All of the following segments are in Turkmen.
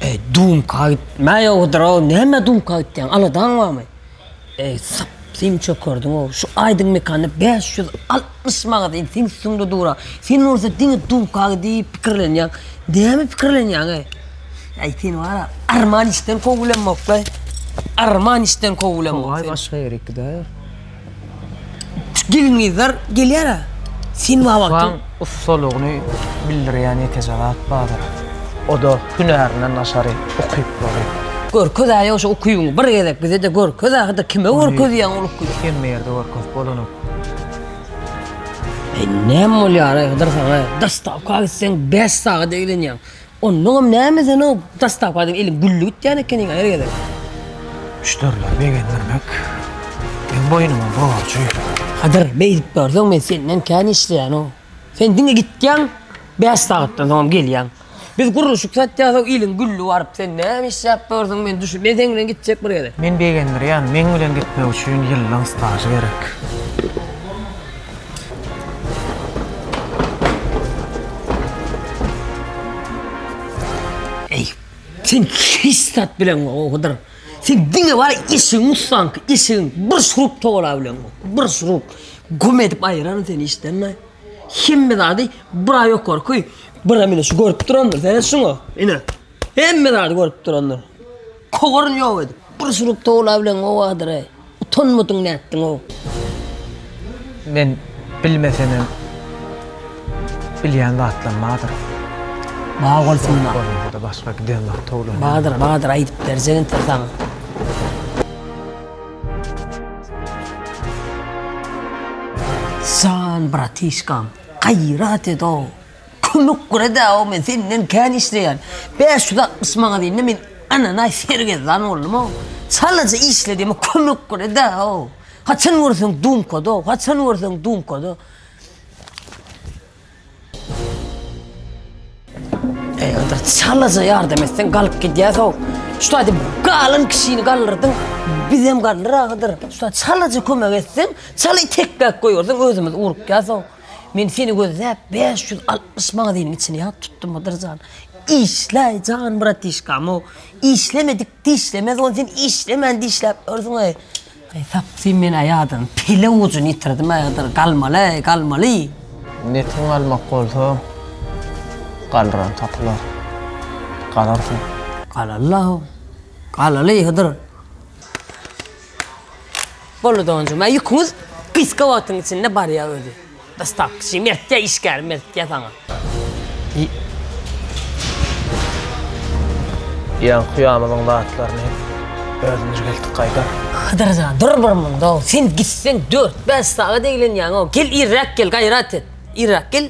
Eý dumka aýtma ýowudyrow näme dumka aýtýaň aladaň barmy eý syp syn çökerdiňow şu aýdym mekanda bäş ýüz altmyş manat eý seň üstüňde dura sen bolsa diňe dumka diýip pikirlenýäň näme pikirlenýäň eý eý sen wara arman işden kow bilenmok eý arman işden kow bilenmok sen. Togay başga ýere gidäýer. Şu gelin-gyzlar gelýär-ä. Sen wah wah diýip. Mugtlaryň ussalygyny bildirýän ýekeje zat bardyr. O-da hünärinden daşary ukyplary. Görkez-ä ýa-da şu ukybyňy bir gezek bize-de görkez-ä, hydyr kime görkezýäň ol ukyby? Muny hemme ýerde görkezip bolanok. Eý, näme bolýar-aý, hydyr saňa-aý? Dostawka gitseň bäş sagat eglenýäň. Onnoňam näme sen o dastapadan eliň gülli gitýän ekeniň-a her gezek. Müşderileri begendirmek meň boýnuma borjy. Kadyr, beýdip görseň men senden kän işleýän-ow. Sen diňe gitýäň, bäş sagatdan soňam gelýäň. Biz gurluşyk satýasow eliň gülli baryp sen näme işläp ýörsüň men düşün. Men seň bilen gitjek bir gezek. Men begendirýän, meň bilen gitmek üçin ýyllaň stažy gerek. Eý, sen hiç zat bileňokdyr. Sen diňe bar eşigiň ussanky, eşigiň bir şurup togala bileňok. Bir şurup güm edip aýyraryn seni işden-de. Hemme zady bura ýokary köý, bura mine şu görüp durandyr, seredip şuňa. Ine, hemme zady görüp durandyr. Kowaryny ýok edip. Bir suruk towla bilen gowadyr-aý. Utanmadyň nätdiň-ow. Men bilmesemem bilýän zatlam badyr. Bar bolsunlar. Bolmasa-da başga giden wagt towlanýan. Badyr, badyr aýdyp berjek intek saňa. Jan bratişkam, gaýrat ed-ow. Kömek gura-da, o men senden kän işleýän. Bäş ýüz altmyş maňa diýende, men ananaý sergezdan boldum-ow. Çalaja işle diýme, kömek gura-da, o. Haçan görseň dumkada-ow, haçan görseň dumkada. Eý, onda çalaja ýardam etseň, galyp gidýäs-ow. Şu taýda galan kişini galdyrdyň, bizem galdyr ahyr. Şu taýda çalaja kömek etseň, çaly tekläp goýberseň, özümiz urukýas-ow. Men seni gözläp bäş ýüz altmyş magaziniň içini ýat tutdum Hydyr jan. Işläý jan bratişkam-ow. Işlemedik dişlemez ony sen işlemän dişläp ýörsüň-eý. Eý tapsyn men-ä ýadyň pele ujuny ýitirdim-ä Hydyr, galmaly-eý, galmaly. Netin galmak bolsa, galran tapylar. Galarsyň. Galaly-la-ow. Galaly Hydyr. Boldy donjum. Aý ýüküňiz gysga wagtyň içinde barýa özi. Dostawçy mertja işgär mertja saňa. Ýa kuýamyzyň zatlaryny özümiz geldik gaýdar. Hydyr jan dur bir munda sen gitseň dört bäş sagat eglenýäňow gel irräk gel gaýrat et irräk gel.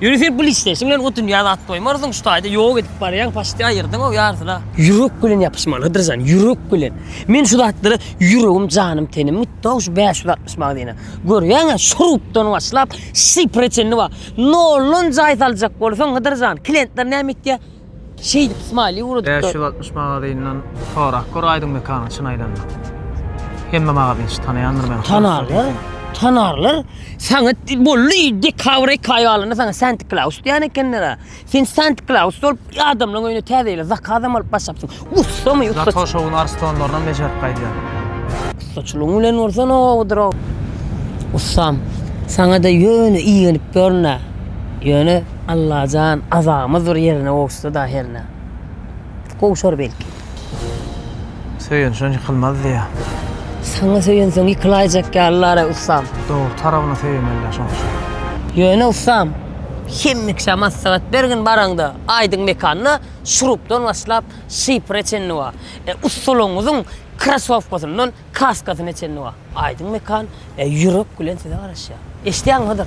Ýöne sen pul isle, şuň bilen o dünýä zat goýmarsyň, şu taýda ýok edip barýaň, paçti aýyrdyň-ow ýarysyna. Ýürek bilen ýapyşmalydyr jan, ýürek bilen. Men şu zatlara ýüregim, janym, tenim gitdi-ow şu bäş ýüz altmyş magazine. Görýäň-ä, şu rubdan başlap, şifre çenli bar. Noldan jaý saljak bolsaň, Hydyr jan, klentler näme etýär? Şeýdip smiley uradyplar. Bäş ýüz altmyş magazynydan sorap gör aýdyň mekanyň çyn aýdanda. Hemme magazynçy tanaýandyr meni. Tanarlar, tanarlar. Saňa bolly dekabr eki aý galanda saňa Santy Klaus diýen ekenler-ä. Sen Santy Klaus bolup adamlaryň öýüne täze ýyla zakazam alyp başlapsyň. Ussa my ussa. Zato şowun arstonlarynam bejerip gaýdýar. Ussaçylygyň bilen bolsa nowadyr o. Ussam, saňada ýöne igenip ýörün-ä. Ýöne Allajan azamyz bir ýerine gowuşsa-da hernä. Gowşar belki. Söýenşen ýykylmaz diýýär. Saňa söýensoň ýykylaýjak ýalylar-a ussam. Dogry tarabyna söýemeli-dä şoň üçin. Ýöne ussam, hemmeşä maslahat bergin baraňda aýdyň mekanda. Şurupdan başlap, şifre çenli bar. E, ussalaryňyzyň krasowkasyndan kaskasyna çenli bar. Aýdyň Mekan, e, ýürek bilen size garaşýar. Eşidýäňmi Hydyr?